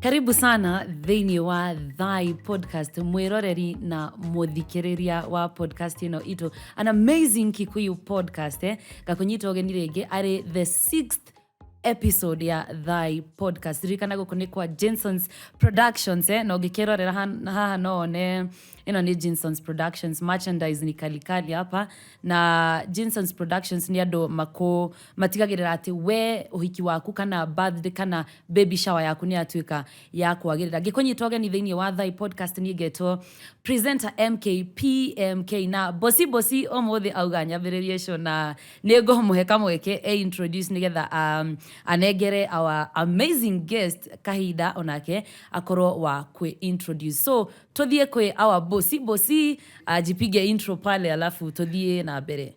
karibu sana thĩinĩ wa thai podcast mwĩroreri na mũthikĩrĩria wa podcast ĩno itũ an amazing kikuyu podcast eh? ngakũnyita ũgeni rĩngĩ arĩ the sixth episode ya thai podcast ririkana gũkũ nĩ kwa jinsons productions eh? na ũngĩkĩrorera han- haha no one ĩno nĩ jinsons productions merchandise ni kalikali hapa na jinsons productions nĩ andũ makũ matigagĩrĩra atĩ we ũhiki waku kana birthday kana baby shower yaku nĩ yatuĩka ya kwagĩrĩra ngĩkũnyita ũgeni thĩinĩ wa thai podcast niĩ ngetwo presenter mk pmk na bosi bosi ũmũthĩ auga nyambĩrĩrie show na nĩ ngũmũhe kamweke e introduce nĩgetha um, anengere our amazing guest kahinda onake akorwo wa kwĩ introduce so tũthiĩ kwĩ our bosi bosi ajipige intro pale alafu tũthiĩ na mbere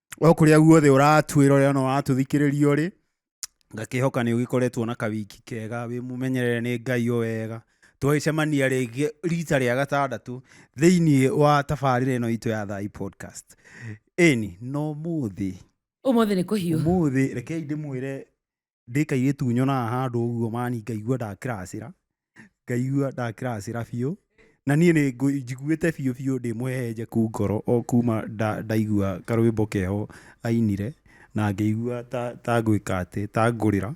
o kũrĩa guothe ũratwĩra ũrĩa ona ũratũthikĩrĩria ũrĩ ngakĩhoka nĩ ũgĩkoretwo na kawiki kega wĩ mũmenyerere nĩ ngai o wega twagĩcemania rĩngĩ rita rĩa gatandatũ thĩinĩ wa tabarĩra ĩno itũ ya thai podcast ĩni no mũthĩ Ũmũthĩ nĩ kũhiũ. mũthĩ rekei ndĩmwĩre ndĩ kairĩtu nyonaga handũ ũguo mani ngaigua ndakĩracĩra, ngaigua ndakĩracĩra biũ, na niĩ nĩ njiguĩte biũ biũ ndĩ mũhehenjeku ngoro o kuma ndaigua karwĩmbo keho ainire, na ngĩigua ta ta ngwĩka atĩ, ta ngũrĩra.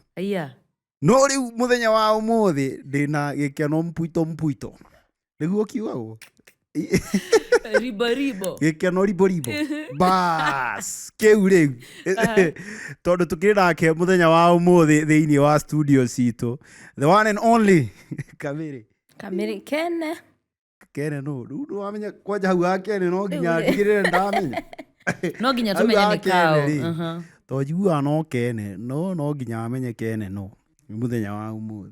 No rĩu mũthenya wa ũmũthĩ ndĩna gĩkeno mpwito mpwito. nĩguo kiugagwo riboribo gĩkeno riboribo bas kĩu rĩu tondũ tũkĩrĩ nake mũthenya wa ũmũthĩ thĩinĩ wa studio citũ the one and only kamĩrĩ kamĩrĩ kene kene no rĩu nĩwamenya kwanja hau ha kene no nginya ndigĩrĩre ndamenya no nginya Hau tũmenye nĩ gakene kaũ rĩ. Aha. to njiguaga no kene no no nginya amenye kene no nĩ mũthenya wa ũmũthĩ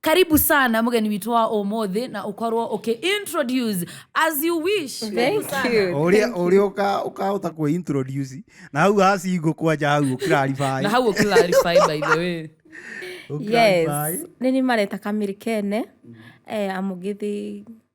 karibu sana mgeni witũ wa ũmũthĩ na ũkorwo ũkĩ introduce as you wish Karibu Thank sana. you. Ũrĩa ũrĩa ũka- ũkahota kwĩ introduce na hau hacingo kwanja hau na ũkiraribaya hau ũkĩlarify by the way Yes. Nĩ nĩ mareta kamiri kene eh, amugithi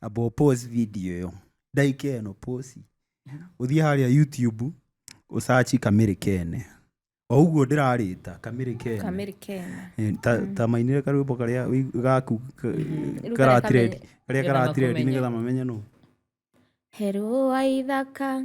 ambao pause video ĩyo ndaika ĩno pause ũthiĩ harĩa youtube ũcaci kamĩrĩ kene o ũguo ndĩrarĩta kamĩrĩ kene kamĩrĩ kena Eh, ta- ta mainire karwĩmbo karĩa wĩ- gaku ka- Rĩu karatiredi karĩa karĩa karatiredi karatiredi nĩgetha nĩgetha mamenye nũ herũ wa ithaka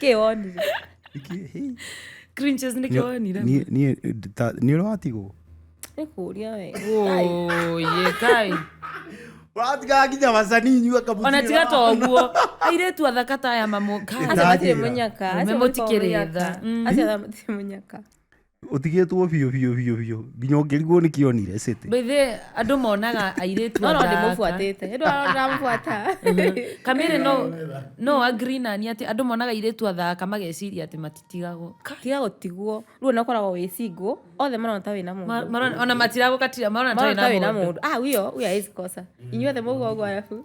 keonire Iki- cringes nä keonire Niĩ- niĩ ta- nĩ ũrĩa watigwo nä kå ria we oye kai watigaga nginya macani inyua kabuti ona tiga to å guo airä tu athaka ta aya mamå Ĩta- acio matirä Ndagĩra. må nyaka Arũme mũtikĩrĩ tha. Mm. acio matirä må nyaka utigitwo biu biu biu biu nginya ungirigwo ni kionire city Mbithe andå monaga airĩtu no no athaka. ndĩmũbuatĩte nĩ ndĩramũbuata kamere no no agree na niĩ atĩ andå monaga airĩtu athaka mageciria atĩ matitigagwo tiga gũtigwo rĩu ona ũkoragwo wĩ single othe marona ta wĩna mũndũ Ma- marona- ona matiragå katira marona marona ta tarĩ wĩna na må mũndũ ah huyo huyo hawezi kosa inyuothe mũguo ũguo arabu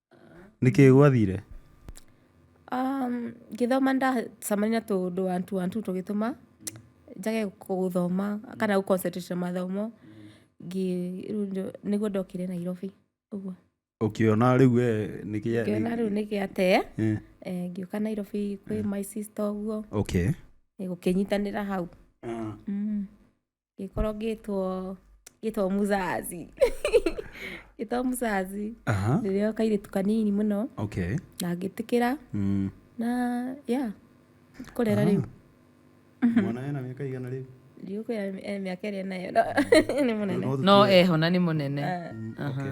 nĩkĩ gwathire Um, ngĩthoma ndacamania na tũũndũ wantu wantu tũgĩtũma njage gũthoma kana gũ concentrate na mathomo ngĩ- rĩu ndio- nĩguo ndokire nairobi ũguo ũkĩona rĩu we nĩkĩa ngĩona rĩu nĩ gĩate Eh, eh, ngĩũka nairobi kwĩ my sister ũguo okay eh, gũkĩnyitanĩra hau Ah. Mm. gĩkorwo gĩtwo gĩtwo muzazi gĩtwo muzazi aha rĩrĩa kairĩtu kanini mũno okay na ngĩtĩkĩra mm. na ya kũrera rĩu mwana ena mĩaka igana rĩu rĩu kwĩ eh, mĩaka ĩrĩa nayo no, nĩ mũnene no eho na nĩ mũnene Ah. Mm, okay.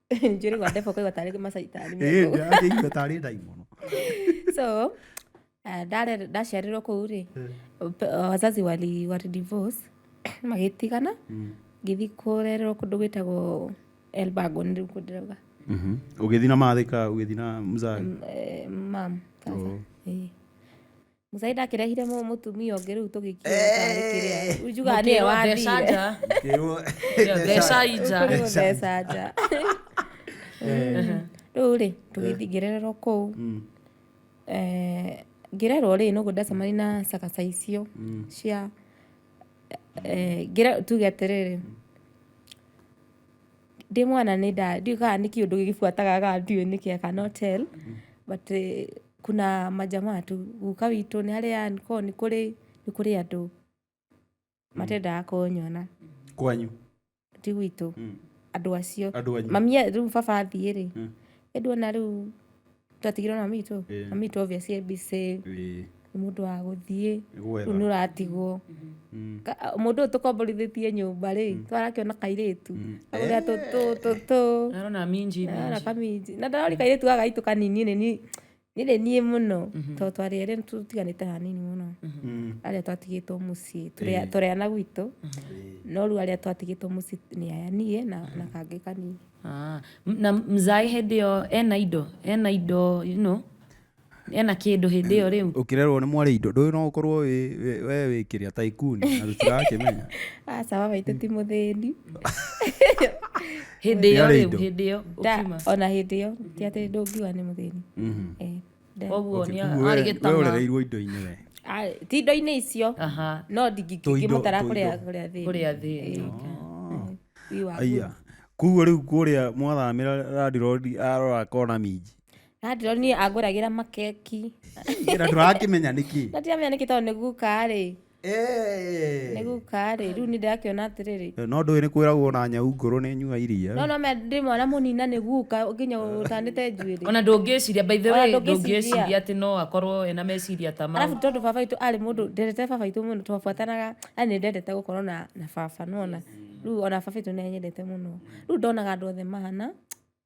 njũrĩ gwa ndebo kwaigua tarĩ macaitani akĩigua tarĩ ndaimono so eh, ndare- ndaciarirwo kũu rĩ pe- wazazi wali wali divorce magĩtigana ngĩthi kũrererwo kũndũ gwĩtagwo elbago nĩ rĩu kũ ndĩrauga ũgĩthi na mathĩka ũgĩthi na mzai Eh, mam sasa. Oh. Eh. musaida akĩrehire mũ- mũtumia ũngĩ rĩu tũgĩkiũra kana nĩ kĩrĩa rĩu njugaga nĩwe Mũkĩrwo mbeca wathire nja. Kĩrwo- Kĩrĩa mbeca nja. Kũrĩ gũtheca nja rĩu rĩ tũgĩthiĩ ngĩrererwo kũu Mm. Eh, ngĩrerwo rĩ noguo ndacemani na cakaca icio cia eh, ngĩre- tuge atĩrĩrĩ Ndĩ mwana nĩ nda, ndiũĩ kana nĩ kĩũndũ gĩbuataga kana ndiũĩ nĩ kĩĩ I cannot tell, but kuna majamaa tu, guka witũ nĩ harĩa nĩ koragwo nĩ kũrĩ, nĩ kũrĩ andũ matendaga kũnyona. Kwanyu? Ti gwitũ, andũ acio. Andũ anyu? Mami, rĩu baba athiĩ-rĩ, ĩndĩ ona rĩu twatigirwo na mitũ Eh. na mitũ obvious ye busy Ĩĩ. nĩ mũndũ wa gũthiĩ Gwetha. rĩu nĩ ũratigwo Mm. Ka- a- mũndũ ũyũ tũkomborithĩtie nyũmba rĩ twarakĩona kairĩtu agũrĩa tũtũtũ Arona minji ara minji. kaminji na ndarori kairĩtu gaka gaitũ kanini nĩ ni- nĩ nĩ niĩ mũno tondũ twarĩ erĩ nĩ tũtiganĩte hanini mũno Mm. arĩa twatigĩtwo mũciĩ tũrĩa- tũrĩana gwitũ no rĩu arĩa twatigĩtwo mũciĩ nĩ aya niĩ na na kangĩ kanini Ah, m- na mzai hĩndĩ ĩyo ena indo ena indo you know, ena kĩndũ hĩndĩ ĩyo rĩu ukirerwo ni mwari indo nduyu no ukorwo wi- wi- we wikiria taikuni na tutirakimenya aca baba itũ ti mũthĩni hĩndĩ ĩyo Yarĩ rĩu indo. hĩndĩ ĩyo Da, ũkiuma ona hĩndĩ ĩyo ti atĩ ndũngiuga nĩ mũthĩni Eh. koguo Okay, nĩ kumbe arĩ we- we gĩtama ũrereirwo indo-inĩ we Ah, ti indo-inĩ icio aha no Tũindo- ndingĩmũtara kũrĩa tũindo. kũrĩa thĩinĩ kũrĩa thĩ Wii wa aya nguru. kuguo rĩu kũrĩa mwathamĩra randirodi arora akona minji na ndĩrona niĩ angũragĩra makeki na tũrakĩmenya nĩkĩ na ndiramenya nĩkĩ tondũ nĩ guka-rĩ Eh. nĩ guka rĩ rĩu nĩ ndĩrakĩona atĩrĩrĩ no ndũĩ nĩ kwĩragwo na nyau ngũrũ nĩ nyua iria no no me ndĩ mwana mũnina nĩ guka nginya ũtanĩte njuĩrĩ ona ndũngĩciria by the Ona way ndũngĩciria. ndũngĩciria atĩ no akorwo ena meciria ta mau arabu tondå baba witå arä må ndå ndendete baba witå må no twabuatanaga na nä ndendete gå korwo na na baba nona rä u ona baba witå nä anyendete må no rä u ndonaga andå othe mahana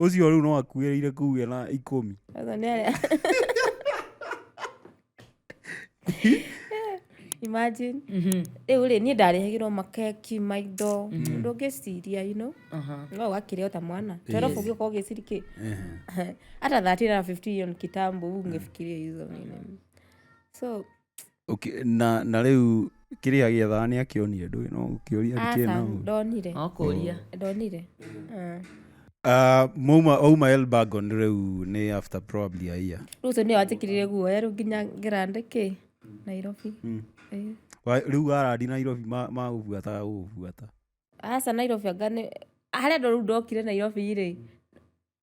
ũcio rĩu no akuĩrĩire kuge na ikũmi Ũguo nĩ arĩa imagine rĩu rĩ niĩ ndarehagĩrwo makeki maindo ũndũ ũngĩciria you know Aha. no ũgakĩrĩa ta mwana torobu ũgĩũka ũgĩciri kĩ hata 13 na 15 hiyo ni kitambo huu ungefikiria hizo nini so Ũkĩ- na na rĩu kĩrĩa gĩethaga nĩ akĩonire ndũĩ no ũkĩũria Ata, kĩna ũru. ndonire No kũria. ndonire Ah. Ah, mauma auma elbagon rĩu nĩ after probably a year rĩu ũcio nĩwe wanjĩkĩrire guoya rĩu nginya ngĩrande kĩ nairobi Ĩĩ. Wa- rĩu warandi nairobi ma- magũbuataga gũgũbuata aca nairobi anga nĩ harĩa andũ rĩu ndokire nairobi rĩ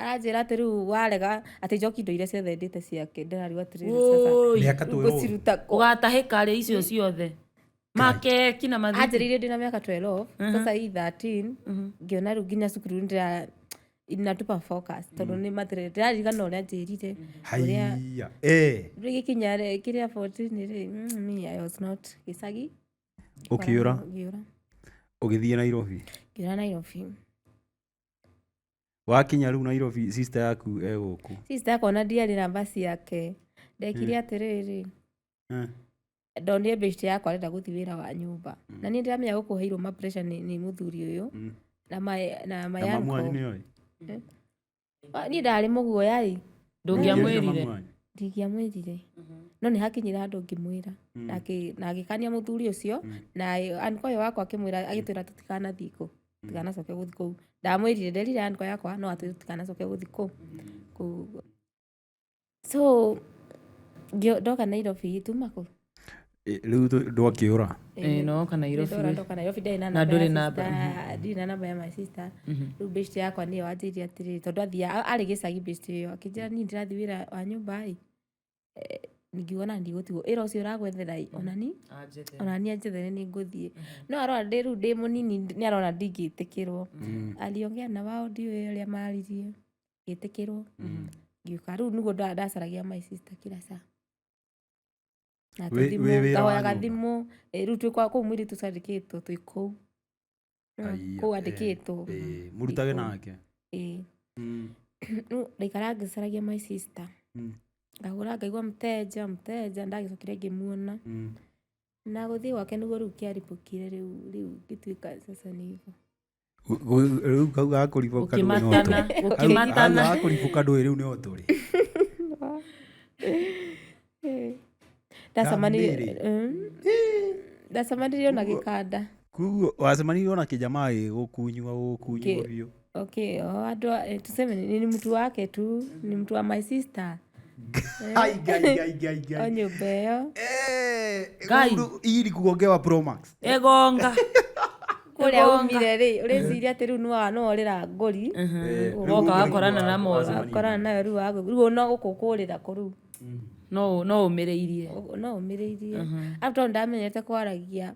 aranjĩra atĩ rĩu warega atĩ njoki indo iria ciothe ndĩte ciake ndĩrariu atĩrĩrĩ sasa Woi, Mĩaka twĩ ũũ. ngũciruta ũgatahĩka rĩ icio ciothe makeki na mathiti anjĩrĩire ndĩna mĩaka 12 sasa hii 13 ngĩona rĩu nginya cukuru ndĩra inatupa focus tondũ nĩ matirĩ ndĩraririkana ũrĩa njĩrire ũrĩa haiya Eh, rĩu gĩkinya rĩ- kĩrĩa 14 rĩ mm, me I was not gĩcagi ũkĩũra ngĩũra ũgĩthiĩ nairobi ngĩũra Nairobi wakinya rĩu nairobi sister yaku egũkũ sister yakwa ona ndiarĩ na basi yake ndekire atĩrĩrĩ Eh, ndonire bĩcitĩ yakwa arenda gũthiĩ wĩra wa nyũmba na niĩ ndiramenya gũkũheirwo ma pressure nĩ nĩ mũthuri ũyũ mm. na ma- na na mamu wanyu mayanko nĩoĩ niĩ ndarĩ mũguoya rĩ ndũngĩamwĩrire Mamu wanyu? ndingĩamwĩrire no nĩ hakinyire handũ ngĩmwĩra Mm. na akĩ- na agĩkania mũthuri ũcio na anko ũyũ wakwa akĩmwĩra agĩtwĩra tũtikanathiĩ kũ tikanacoke gũthi kũu ndamwĩrire nderire andkwa yakwa no atwä tikanacoke gũthi kũu Kũu- so ngĩo- ndoka nairobi ituma kũu Ĩ, rĩu tũ- ndwakĩũra Ĩĩ, no woka Nairobi Ndora wĩ- ndoka Nairobi ndarĩ na Na namba ndũrĩ ya namba, sister, ndirĩ na namba ya my sister rĩu best yakwa nĩyo anjĩria atĩrĩ tondũ athia arĩ gĩcagi best ĩyo akĩnjĩra niĩ ndĩrathiĩ wĩra wa nyũmba ĩ eh, ngiuga na ndigũtigwo ĩra ũcio ũragwethera ĩ onani anjete onani anjethere nĩ ngũthiĩ no arona ndĩ rĩu ndĩ mũnini nĩ arona ndingĩtĩkĩrwo ariongea na wao ndiũĩ ũrĩa maririe ngĩtĩkĩrwo ngiũka rĩu nĩguo nda- ndacaragia my sister kila saa Na Wĩ- thimũ, wĩ wĩra wa ngahoyaga nyũmba? thimũ eh, rĩu twĩ kwa kũu mwĩrĩ tũcandĩkĩtwo twĩ kũu Aiya, kũu eh, andĩkĩtwo eh, mũrutage Gĩkũyũ. nake ĩĩ Mm, rĩu ndaikara ngĩcaragia my sister mm, ngahũra ngaigua mũteja mũteja ndagĩcokire ngĩmuona mm. na gũthiĩ gwake nĩguo rĩu kĩaribũkire rĩu rĩu ngĩtuĩka sasa nĩvo Gu- gu- rĩu kau gakũribũka ndũĩ no Gũkĩmatana, tũrĩ. Kau- gũkĩmatana. kau gakũribũka ndũĩ rĩu nĩ o tũrĩ ndacemanire mm. ndacemanire na gikanda kuguo wacemanirwo na kijamaa gigukunywa gukunywa biu okay oh, andu eh, tuseme ni mtu wake tu ni mtu wa my sister nyumba ĩyo iri kugongewa promax ĩgonga kũrĩa umire rĩ ũrĩciria atĩ rĩu nĩwa no ũrĩra ngũri ũgoka wakorana na moru wakorana nayo rĩu wagu rĩu ona gũkũ kũrĩra kũ rĩu no no ũmĩrĩirie Ũguo no ũmĩrĩirie after all ndamenyete kwaragia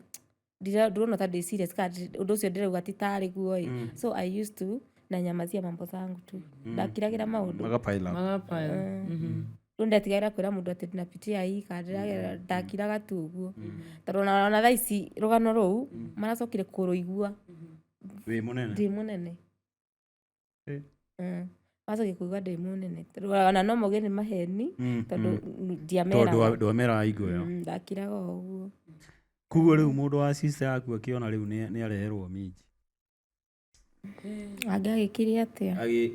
ndira- ndurona ta ndĩ serious kana ndĩ- ũndũ ũcio ndĩrauga ti tarĩ guo ĩ so i used to na nyamazia mambo zangu tu ndakiragĩra maũndũ magapaila magapaya rĩu ndetigagĩra kwĩra mũndũ atĩ ndinapitia hii kana ndĩragerera ndakiraga tu ũguo tondũ ona ona thaa ici rũgano rũu maracokire kũrũigua wĩ mũnene ndĩ mũnene Mm. wacokia kuigua ndĩ mũnene Tondũ ona no moge nĩ maheni Mm, tondũ mm. tondũ ndiameraga ndwameraga igũya Mm, ndakiraga o ũguo kuguo rĩu mũndũ wa sister yaku akĩona rĩu nĩ nĩ areherwo minji angĩagĩkire atĩa Agĩ-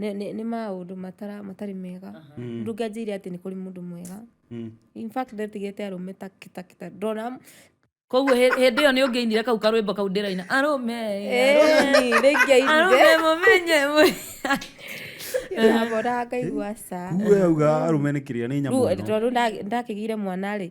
nĩ- nĩ nĩ maũndũ matara- matarĩ mega ndũngĩanjĩire atĩ nĩ kũrĩ mũndũ mwega Mm. in fact ndetigĩte arũme ta kita kita ndona koguo hĩ- hĩndĩ ĩyo nĩ ũngĩinire kau karwĩmbo kau ndĩraina arũme arũme rĩngĩainire arũme mũmenye mwe ndabora ngaigua ca kuwe auga arũme nĩ kĩrĩa nĩ nyamũ ĩno. tondå ndakĩgire mwana rä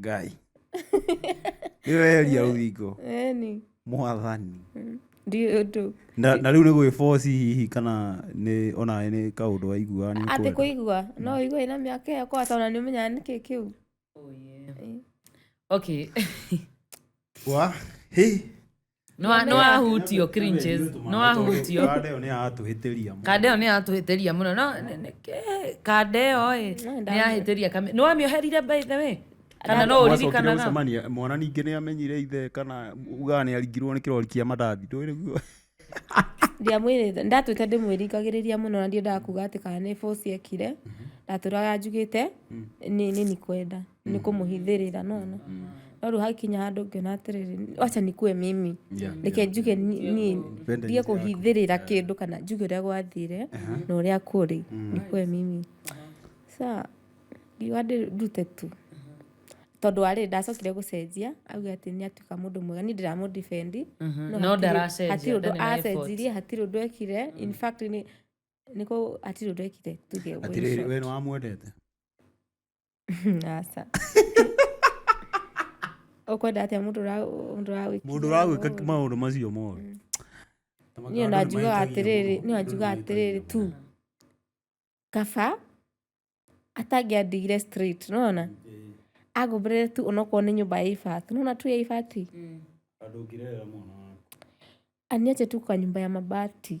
ngai nĩweheria rũthingo Eni. mwathani Mm. Ndiũĩ ũndũ. na na rĩu nĩ gwĩboci hihi kana nĩ ona nĩ kaũndũ waiguaga nĩ Atĩ ũkwenda. kũigua. No ũigua ĩna mĩaka ĩyo kwa tondũ nĩ ũmenyaga nĩ kĩ kĩu. okay Wa, hĩ nĩwahutio cringes nĩwahutio kanda ĩyo nĩ yatũhĩtĩria mũno. kanda ĩyo nĩ yatũhĩtĩria mũno no nĩ- nĩ- kĩ- kanda ĩyo ĩ nĩ yahĩtĩria kame nĩ wamĩoherire by the way kana no Mwacokire ũririkanaga gũcemania, mwana ningĩ nĩ amenyire ithe kana ugaga nĩ aringirwo nĩ kĩrori kĩa mandathi ndũĩ guo ndiamwĩrĩte ndatwĩte ndĩmwĩrikagĩrĩria mũno na ndiendaga kuga atĩ kana nĩ bũci ekire ndatũraga njugĩte nĩ nĩ nikwenda ni kumuhithirira nona no riu hakinya handu ngiona atiriri acha nikue mimi reke njuge ni- ni Wende ndige kuhithirira kindu kana njuge uria gwathire na uria kuri nikue mimi sa ngiuga ndi- ndute tu tondu ari ndacokire gucenjia auga ati ni atuika mundu mwega ni ndiramu defend No ndaracenjia, hati undu ndarĩ na effort. acenjirie hati undu ekire in fact ni niko hati undu ekire tuge atiriri wĩra. we nĩ wamwendete aca ũkwenda atĩa mũndũ ũra- mũndũ ũragwĩkithia mũndũ ũragwĩka ũũru? maũndũ macio moru Mm. niĩ ona njugaga atĩrĩrĩ niĩ ona njugaga atĩrĩrĩ tu kaba atangĩandigire straight nona angũmbĩrĩre tu onokorwo nĩ nyũmba ya ibati nona tu ya ibati andũ ngirerera mwana waku aniache tu kwa nyumba ya mabati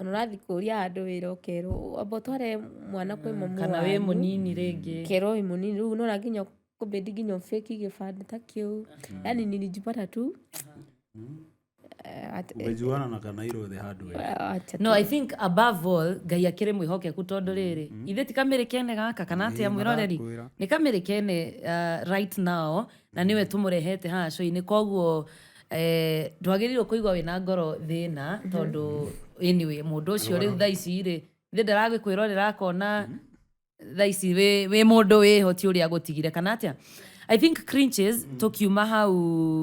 ona ũrathiĩ kũria handũ wĩra ũkerwo amba ũtware mwana kwĩ mamu kana wĩ wanyu." mũnini rĩngĩ kerwo wĩ mũnini rĩu nona nginya kũbĩndi nginya ũbĩki gĩbandĩ ta kĩu yani nilijipata tu eh, at- umejuana na kanairo the hard way eh, acha no i think above all ngai akĩrĩ mwĩhokeku tondũ rĩrĩ ithe ti kamĩrĩ kene gaka kana atĩa mwĩroreri nĩ kamĩrĩ kene uh, right now Na nĩwe tũmũrehete haha show-inĩ koguo eh, ndwagĩrĩirwo kũigua wĩna ngoro thĩna tondũ anyway mũndũ ũcio rĩu thaa ici rĩ ithe ndaragĩkwĩrorera akona thaa ici wĩ wĩ mũndũ wĩho ti ũrĩa agũtigire kana atĩa i think cringes tũkiuma hau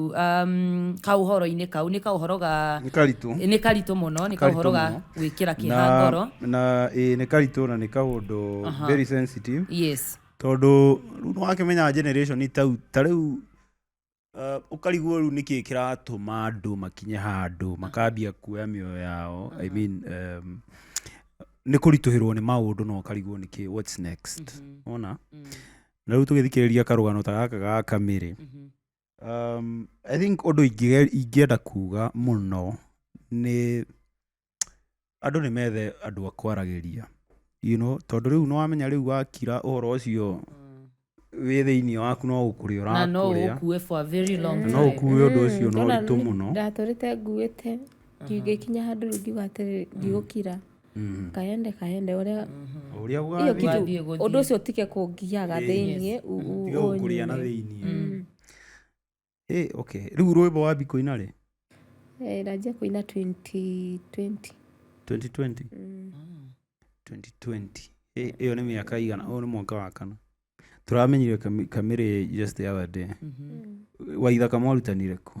um, kaũhoro-inĩ kau nĩ kaũhoro ga nĩ karitũ nĩ karitũ mũno nĩ kaũhoro ga mũno. gwĩkĩra kĩha ngoro na ĩĩ nĩ karitũ na nĩ kaũndũ Aha. very sensitive yes Tondũ rĩu nĩ wakĩmenya generation ta rĩu, ta rĩu ũkarigwo rĩu nĩkĩ kĩratũma andũ makinye handũ makambia kuoya mĩoyo yao, I mean nĩ kũritũhĩrwo nĩ maũndũ na ũkarigwo nĩkĩ, what's next? Nĩ wona? Na rĩu tũgĩthikĩrĩria karũgano ta gaka ga Kamĩrĩ, I think ũndũ ingĩenda kuga mũno nĩ andũ nĩ methe andũ a kwaragĩria you know tondũ rĩu nĩ wamenya rĩu wakira ũhoro ũcio wĩ thĩinĩ waku no gũkũrĩa na no ũrakũrĩa ũkue for a very long na no time ũkuwe ũndũ ũcio na ũritũ mũno ndatũrĩte nguĩte ngĩkinya handũ rĩu ngiuga atĩrĩ ndigũkira mm. kaende kaende uria uria gwa thiĩ ũndũ ũcio tige kũngiaga thĩinĩ tiga gũkũrĩa na thĩinĩ mm. eh, okay rĩu rwĩmbo wa bikũina rĩ eh, ranjia kũina 2020 2020 mm. 2020 eh, ĩyo nĩ mĩaka igana ũyũ nĩ mwaka wa kana tũramenyire kamĩrĩ just the other day mm-hmm. waithaka mwarutanire kũ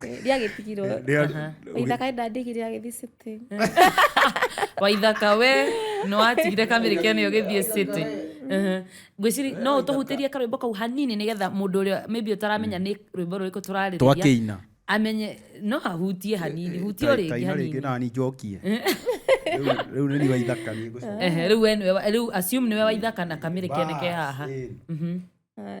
riagĩtigirwo Rĩa- waithaka ndandĩgire agĩthiĩ city waithaka we nĩ watigire kamĩrĩ kene ũgĩthiĩ city Mhm. ngwĩciri no ũtũhutĩrie karwĩmbo kau hanini nĩgetha mũndũ ũrĩa maybe ũtaramenya nĩ rwĩmbo rũrĩkũ tũrarĩrĩria twakĩina amenye no ahutie hanini hutie ũrĩngĩ taina rĩngĩ hanini nani njokie Rĩu- rĩu nĩ niwa ithaka nĩ ngũcoka. Ehe, rĩu we nĩwe wa- rĩu assume nĩwe waithaka na kamĩrĩ kene ke haha Bas, ĩĩ. Ah,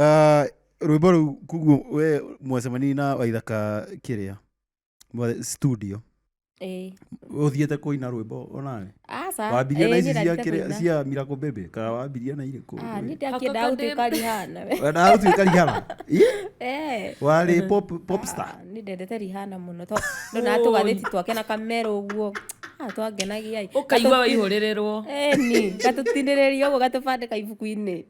Ah, rwimbo ruu kuguo we mwacemani na waithaka kiria mwa- studio Eh. uthiete kuina rwimbo onawe Aca. wambirie na eh, ici nĩ cia rarĩte kiria kũina. cia miracle baby ka wambirie na irä kå Ah, nĩ ndakĩenda Hakoko ndĩ- gũtuĩka rihana we. wendaga gå tuä rihana Eh. warä popstar Ah, nĩ ndendete rihana mũno to ndona tũgathĩti twake na kamera ũguo Ah, twangenagia ĩ. ũkaigua waihũrĩrĩrwo Eh, ni gatũtinĩrĩria ũguo gatũbandĩka ibuku-inĩ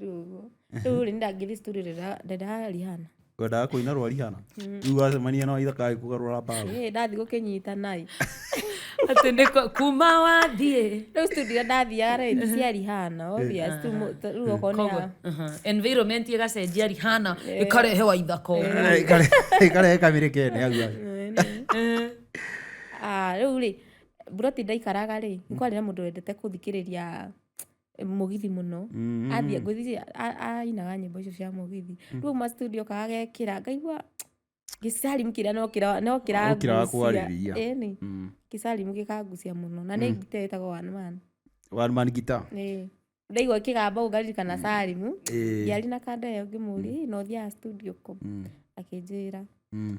rĩu ũguo rĩu rĩ ndangĩthi story rĩra- rĩra rihana kwendaga kũina rwa rihana rĩu wacemania na waitha kaĩ kũgarũra mbaũ Ĩ, ndathi gũkĩnyita nai atĩ nĩ ko- kuma wathiĩ rĩu studio iria ndathiaga rĩ nĩ cia rihana obvious tu mũ- ta- rĩu okorwo nĩ Koguo, ya- aha. environment ĩgacenjia rihana ĩkarehe waitha koguo ĩkarehe kamĩrĩ kene hau hau. Ah, rĩu rĩ buroti ndaikaraga rĩ nĩ kwarĩ na mũndũ wendete kũthikĩrĩria mũgithi mũno Mhm. athiĩ ngwĩciria a- ainaga nyĩmbo icio cia mũgithi rĩu ma studio kagekĩra ngaigua gĩcarimu kĩrĩa no kĩra- no Ũkĩraga kĩrangucia kwarĩrĩria. ĩni Mm. gĩcarimu gĩkangucia mũno na nĩ ngita ĩtagwo one man one man guitar Ĩĩ. ndaigua kĩgamba ũguo ngaririkana carimu Ĩĩ. ndiarĩ na kanda ĩyo ngĩmũria "Ĩ, na ũthiaga studio kũ Mm. akĩnjĩra Mm.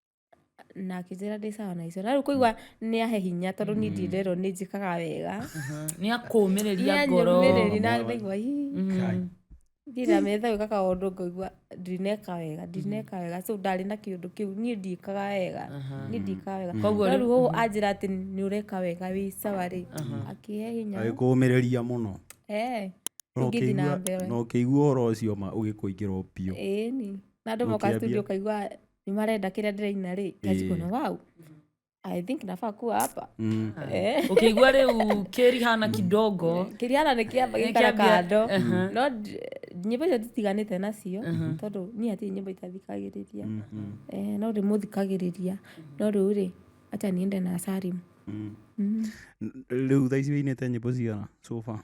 na akĩnjĩra ndĩ sawa na icio na rĩu kũigua nĩ ahe hinya tondũ niĩ ndirerwo nĩ njĩkaga wega nĩ akũmĩrĩria ngoro nĩanyũmĩrĩri na ndaigua "Ii, Kai. ndirametha gwĩka kaũndũ ngaigua ndineka wega ndineka wega so ndarĩ na kĩũndũ kĩu niĩ ndikaga wega niĩ ndikaga wega Koguo no rĩ- rĩu ũũ anjĩra atĩ nĩ ũreka wega wĩ sawa rĩ akĩhe hinya agĩkũũmĩrĩria mũno Eh, Na ingĩthiĩ na ũkĩigua- mbere na ũkĩigua ũhoro ũcio ma ũgĩkũingĩrwo biũ ĩni na andũ moka Ũkĩambia- studio kaigua nĩ marenda kĩrĩa ndĩraina rĩ kajikona wau i think nafaa kuwa hapa Mm. Eh. ukĩigua rĩu kĩrihana kidogo kĩriana nĩ kĩamba Nĩ gĩkara kĩambia- kando Aha. no ndi- nyĩmbo icio nditiganĩte nacio tondũ niĩ hatirĩ nyĩmbo itathikagĩrĩria Eh, no rĩ mũthikagĩrĩria no rĩu rĩ acha niende na sarimu rĩu thaa ici wĩinĩte nyĩmbo cigana sofa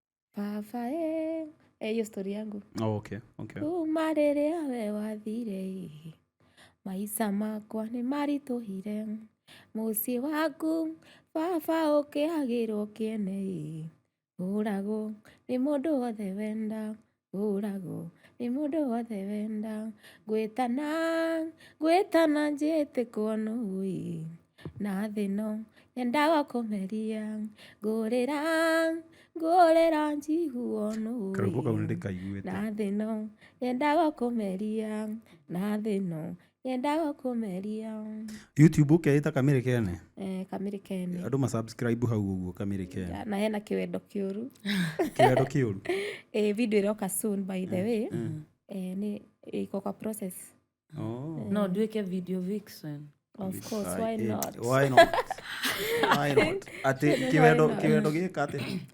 baba eh. Eh, hiyo stori yangu Oh, okay, okay. kuma rĩrĩa we wathire ĩ, maica makwa nĩ maritũhire mũciĩ waku baba ũkĩagĩrwo kĩene ĩ, ũragwo nĩ mũndũ wothe wenda hũragwo nĩ mũndũ wothe wenda gwĩtana gwĩtana njĩtĩkwo nũũĩ na thĩ ĩno yendaga kũmeria ngũrĩra ngũrĩra njiguo nũũĩ Karwĩmbo kau nĩndĩkaiguĩte. na thĩ ĩno yendaga kũmeria na thĩ ĩno yendaga kũmeria youtube ũkeĩta kamĩrĩ kene eh, kamĩrĩ kene andũ masubscribe hau ũguo kamĩrĩ kene na hena kĩwendo kĩũru kĩwendo kĩũru eh, video ĩroka soon by the way eh, nĩ ĩko kwa process oh. no nduĩke video vixen of course why not why not why not atĩ kĩwendo kĩwendo gĩka atĩ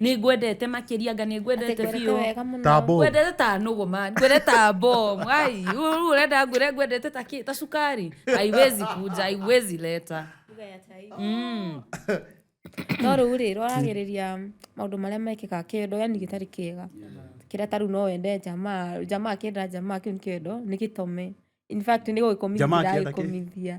nä ngwendete makä ria nga nä ngwendete biå wega mũno ta bomu ngwendete ta nũgũ man ngwendete ta bomu ai rĩu ũrenda ngwĩre ngwendete ta kĩ ta cukari aiwezi kuja aiwezi leta mm. no rĩu rĩ roragĩrĩria maũndũ marĩa mekĩkaga kĩendo yani gĩtarĩ kĩega kĩrĩa ta rĩu no wende jamaa jamaa akĩenda jamaa kĩu nĩ kĩendo nĩ gĩtome in fact nĩ gũgĩkomithia Jamaa akĩenda kĩ? ndagĩkomithia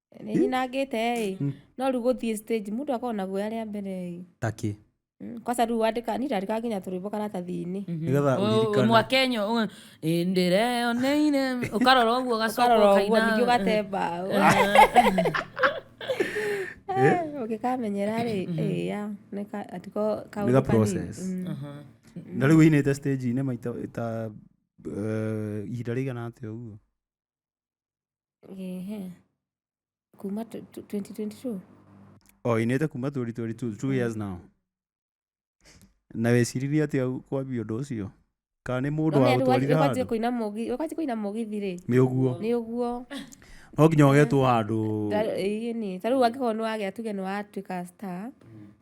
nĩ nyinangĩte ĩ Mm. no rĩu gũthiĩ stage mũndũ akorwo na guoya rĩa mbere ĩ takĩ Mm, kwaca rĩu wandĩka niĩ ndandĩka nginya tũrwĩmbo karatathi-inĩ nĩgetha ũririkane mwakenyo ndĩreyoneire ũkarora ũguo ũkarora ũguo ningĩ gacoka ũgatemba ũngĩkamenyera rĩ ĩya nĩ ka- ati ko- kaũndũ Nĩ ga kanini. process. Mm. na rĩu ũinĩte stage-inĩ maita ta eh, ihinda rĩigana atĩa ũguo Ehe. Kuma tw- tw- 2022. o inite kuma 2022 two years now na weciririe atia kwambia undu ucio kana ni mundu wa gutwarire Ũkwanjia handu kũina mũgi, ũkwanjia kũina mũgithi rĩ. nĩ uguo Nĩ ũguo. no nginya ugetwo handu Ta- ĩĩ nĩ. Ta rĩu angĩkorwo nĩ wagĩa tuge nĩ watuĩka star,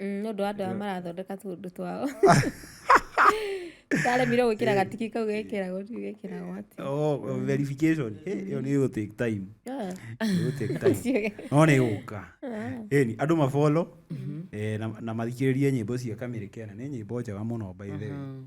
Mm, nĩ ũndũ wa andũ aya marathondeka tũũndũ twao taremire gwĩkĩra eh. gatiki kau gekĩragwo rĩu gekĩragwo atĩ oh, oh, mm. verification ĩyo nĩ ĩgũ take time ah. ĩgũ take time no nĩ gũka ĩni ah. andũ mabolo mm-hmm. eh, na mathikĩrĩrie nyĩmbo cia kamĩrĩ kena nĩ nyĩmbo njega mũno by the way mm-hmm.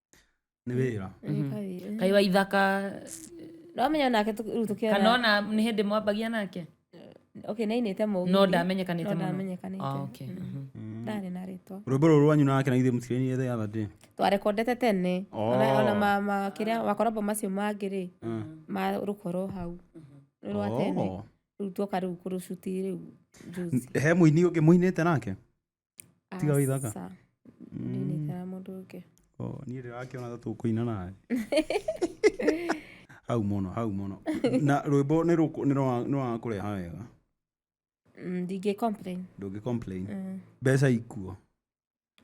nĩ wĩra Nĩ kawĩra. kai wa ithaka Ndamenya nake tũ- rĩu tũkĩona- kana ona nĩ hĩndĩ mwambagia nake Okay, nĩ ainĩte mũgithi. no ndamenyekanĩte No mũno ndamenyekanĩte. Ah, okay. Mhm. Ndarĩ na rĩtwa. rwĩmbo rũrũ rwanyu nake na ithe mũtirĩinire the other day twarekondete tene Oh. ona ona ma- ma- kĩrĩa makorabo macio mangĩ rĩ ma rũkorwo hau nĩ rwa tene Oh. rĩu tuoka rĩu kũrũcuti rĩu juzi he mũini ũngĩ mũinĩte nake Tiga wa ithaka? Aca. Niĩ nĩ ikara mũndũ ũngĩ Oh, niĩ ndĩrakĩona ta tũkũina nawe hau mũno hau mũno na rwĩmbo nĩ rũkũ- nĩ rwa- nĩ wakũreha wega Mm, ndingĩ complain ndũngĩ complain Mm. mbeca ikuo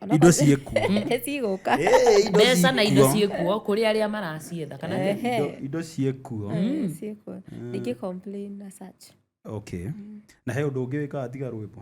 Ona indo kwa- ciĩkuo cigũka mbeca na indo ciĩkuo kũrĩ arĩa maracietha kana nĩ- Ehe. Indo- indo ciĩkuo Eh, ciĩkuo ndingĩ complain na such okay na he ũndũ ũngĩ wĩkaga tiga rwĩmbo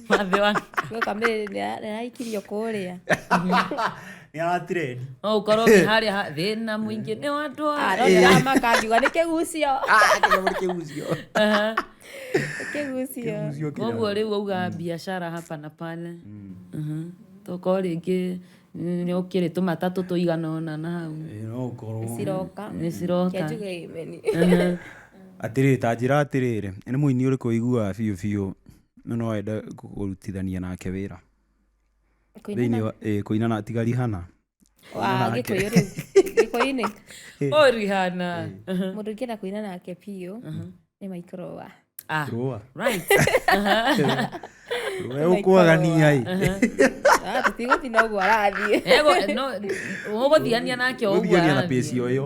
mathĩ wa Gũka mĩrĩ nĩraikirio kũrĩa. nä aratireni no ukorwo ngi haria ha- thina mwingi ni wandu wa Arona maka ngiuga nĩ kĩgucio. Kĩgucio. koguo riu auga biashara hapa na pale tokorwo ringi ni ukiri tumatatu tuigana ona na hau no å korwo Ciroka. ni ciroka Kĩanjuge imeni. atä rä ta njä ra atä rä rä nä må ini å rä kå iguaga biå biå no no ende kũrutithania nake wĩra thĩinĩ wa ĩĩ, kũinana tiga rihana Wa, nake. gĩkũyũ rĩu gĩkũyũ-inĩ o rihana mũndũ ũngĩenda kũina nake biũ nĩ maikoroa Ah, rũa right. rũa ũkwagania ĩ tũtigũthi na ũguo arathiĩ Ego- no, ũgũthiania nake o ũguo gũthiania na arathiĩ. pĩci o ĩyo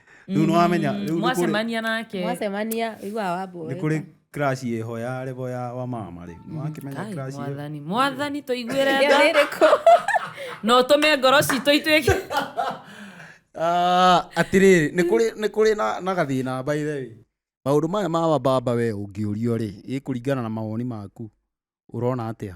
rä u nä wamenya rä u nĩ kũrĩ- mwacemania nake mwacemania iguaga nä wamboe kå rä crash ä ho ya revo ya wa mama rä nä wakä menya Ai, crash ĩyo. mwathani mwathani tå iguä re ĩyo nä rä kå no tå me ngoro citå ituä ke Ah, atĩrĩrĩ nĩ kũrĩ nĩ kũrĩ na, na gathĩna baithe maũndũ maya ma wababa we ũngĩũrio rĩ ĩ kũringana na mawoni maku ũrona atĩa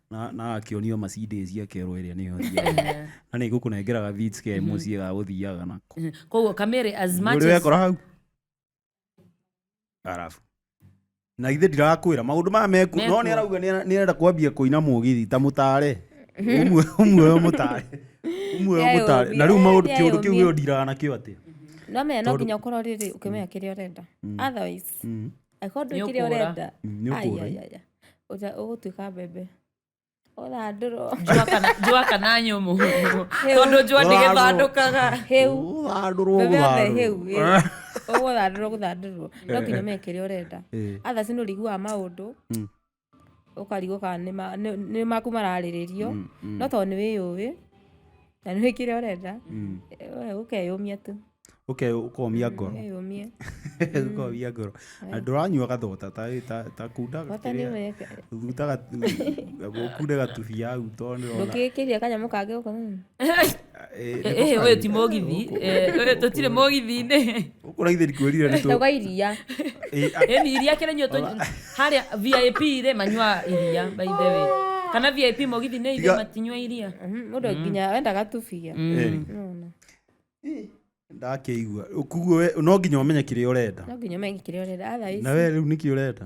na na akĩonio Mercedes ya kero ĩrĩa nĩyo thiaga. na nĩ ngũkũnengeraga Vitz ke mũciĩ ga gũthiaga nako koguo kamere as much Nĩũrĩ as wekora hau arabu na ithe ndirakwĩra maũndũ maya meku Meku. no nĩ arauga nĩ ara- nĩ arenda kwambia kũina mũgithi ta mũtare ũmwe ũmwe ũyũ mũtare ũmwe ũyũ Nĩ mũtare na rĩu ayũmia, maũndũ nĩ kĩũndũ kĩu ayũmia. ũndiraga nakĩo atĩa no menya no Tondũ- nginya ũkorwo rĩrĩ ũkĩmenya kĩrĩa ũrenda otherwise angĩkorwo ndũĩ kĩrĩa Nĩũkũũra. ũrenda Mm, nĩũkũũra. ai, ai, ai, ai. Ũta- ũgũtuĩka mbembe ũthandũrwo njũa kana njũa kana nyũmũ tondũ njũa ndĩgĩthandũkaga hĩu Gũthandũrwo, mbembe yothe hĩu gũthandũrwo. ĩ. ũgũthandũrwo gũthandũrwo no nginya ũmenye kĩrĩa ũrenda Eh. athaci nĩ ũrĩiguaga maũndũ ũkarigwo kana nĩ ma- nĩ- nĩ maku mararĩrĩrio Mm, mm. no tondũ nĩ wĩyũĩ na nĩ wĩkire ũrenda Mm. eh, ũkeyũmia tu okay ũkomia ngoro ũkeyũmia ũkomia ngoro na ndũranyua gathota ta ta- ta kunda bata nĩ kĩrĩa- weka thuta gatu- gũkunde gatubia hau tondũ nĩrona ndũkĩkĩria kanyamũ kangĩ ũko Eh, nĩ Eh, ũyũ ti gũkari. mũgithi Eh, ũyũ tũtirĩ mũgithi-inĩ ũkũraithĩ ndikwĩrire nĩ tũ- tauga iria Eh, a- ĩni iria kĩrĩ nyuo harĩa vip rĩ manyua iria by the way kana vip mũgithi nĩ Tiga- ithe matinyua iria Mhm, mũndũ nginya wenda gatubia eh, Nona. ndakĩigua kuguo we- no nginya ũmenye kĩrĩa ũrenda no nginya ũmenye kĩrĩa ũrenda otherwise na we rĩu nĩkĩ ũrenda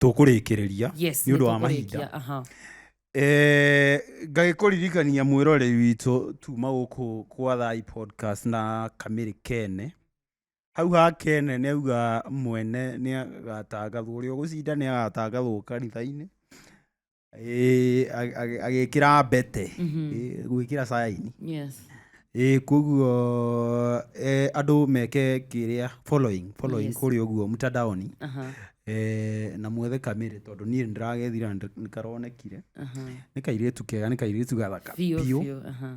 tũkũrĩkĩrĩria yes nĩ ũndũ wa nĩtũkũrĩkia, mahinda aha. Eh, ngagĩkũririkania mwĩrorei witũ tuma gũkũ kwa thai podcast na kamĩrĩ kene hau ha kene nĩ auga mwene nĩ agatangathwo ũrĩa ũgũcinda nĩ agatangathwo kanitha-inĩ Ĩĩ, ag- ag- agĩkĩra mbete Ĩĩ, gwĩkĩra saini Yes. Ĩĩ, koguo eh, andũ meke kĩrĩa following following Yes. kũrĩa ũguo mtandaoni Aha, Eh, na mwethe kamere tondũ niĩ nĩndĩragethira nĩ karonekire aha. nĩ kairĩtu kega nĩ kairĩtu gathaka Biũ, biũ biũ, aha.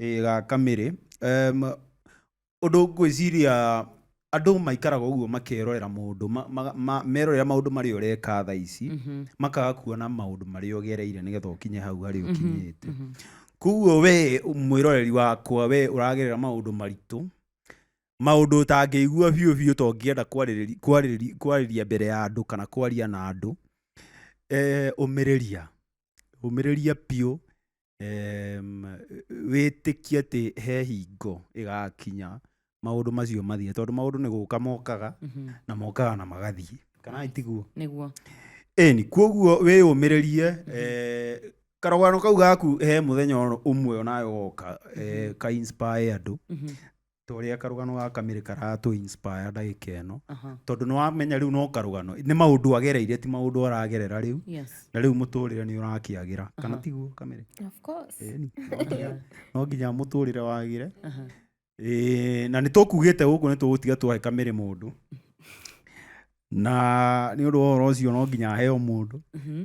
Ĩĩ ga kamĩrĩ. Ũndũ ngwĩciria andũ maikaraga ũguo makerorera maũndũ, merorera maũndũ marĩa ũreka thaa ici, makaga kuona maũndũ marĩa ũgereire nĩgetha ũkinye hau harĩa ũkinyĩte. Kũguo we mwĩroreri wakwa we ũragerera maũndũ maritũ, maũndũ ũtangĩigua biũ biũ ta ũngĩenda kwarĩria mbere ya andũ kana kwaria na andũ, ũmĩrĩria, ũmĩrĩria biũ wĩtĩkie atĩ he hingo ĩgakinya maũndũ macio mathiĩ tondũ maũndũ nĩ gũka mokaga mhm. na mokaga na magathiĩ kana itiguo nĩguo ĩni kuoguo wĩyũmĩrĩrie mhm. eh, karogano kau gaku he mũthenya ũmwe onayo woka eh, mhm. ka inspire andũ ta ũrĩa karũgano ga kamĩrĩ karatũ inspire ndagĩka ĩno Aha. tondũ nĩ wamenya rĩu no karũgano nĩ maũndũ agereire ti maũndũ aragerera rĩu Yes. na rĩu mũtũrĩre nĩ ũrakĩagĩra kana tiguo kamĩrĩ Of course. Ĩni, no nginya- no nginya mũtũrĩre wagĩre Aha. Ĩĩ, na nĩ tũkugĩte gũkũ nĩ tũgũtiga twahe kamĩrĩ mũndũ na nĩ ũndũ wa ũhoro ũcio no nginya aheo mũndũ Mhm.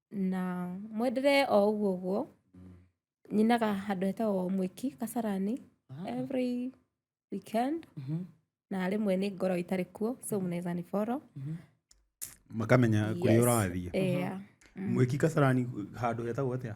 na mwenderee o ũguo ũguo nyinaga handũ hetagwo mwĩki kasarani every weekend na rĩmwe nĩ ngorwo itarĩ kuo so mnaweza ni follow makamenya kũrĩa Yes. ũrathiĩ yeah. mwĩki kasarani handũ hetagwo atĩa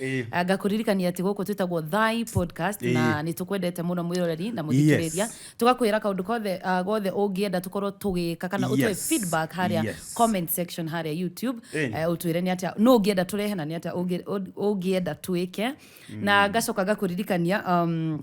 Ĩĩ. Ah, ngakũririkania atĩ gũkũ twĩtagwo thy podcast Ĩĩ. na nĩ tũkwendete mũno mwĩroreri na mũthikĩrĩria Yes. tũgakwĩra kaũndũ kothe ah, gothe ũngĩenda tũkorwo tũgĩka kana ũtũhe Yes. feedback harĩa Yes. comment section harĩa youtube Ĩĩ. eh, ũtwĩre nĩ atĩa no ũngĩenda tũrehe na nĩ atĩa ũngĩ- ũ- ũngĩenda twĩke na ngacoka ngakũririkania um,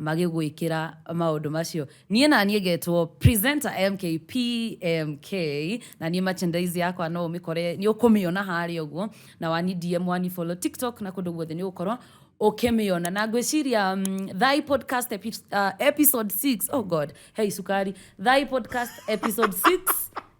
magĩgwĩkĩra maũndũ macio niĩ na niĩ ngetwo presenter mk pmk na niĩ merchandise yakwa no ũmĩkore nĩ ũkũmĩona harĩa ũguo na wani dm wani follow tiktok na kũndũ guothe nĩ ũgũkorwo ũkĩmĩona na ngwĩciria mm, thai podcast epi, uh, episode 6 oh god hey sukari thai podcast episode 6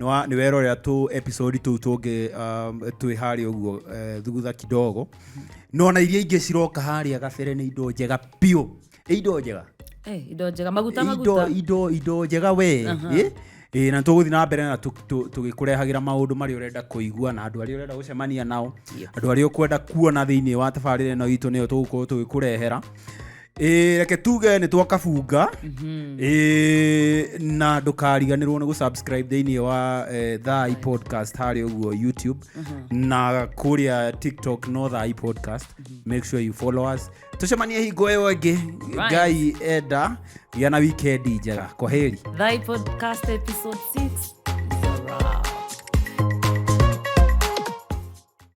nä werorera tå episodi tå u tå ngä um, twä harä å guo eh, thutha kidogo nona iria ingä ciroka harä a gabere nä indo njega biå ä indo njega Eh, indo njega maguta indo maguta indo indo njega we Aha. ĩ? Ĩ, na tũgũthiĩ na mbere na tũ- tũ- tũgĩkũrehagĩra maũndũ marĩa ũrenda kũigua na andũ arĩa ũrenda gũcemania nao Yep. andũ arĩa ũkwenda kuona thĩinĩ wa tabarĩra ĩno itũ nĩyo tũgũkorwo tũgĩkũrehera Ĩĩ, reke tuge nĩ twakabunga Ĩĩ, na ndũkariganĩrwo nĩ gũsubscribe thĩinĩ wa eh, thai podcast harĩ ũguo youtube na kũrĩa tiktok no thai podcast make sure you follow us tũcemanie hingo ĩyo ĩngĩ Right. ngai enda gĩa na wikendi njega kwaheri Thy podcast episode 6.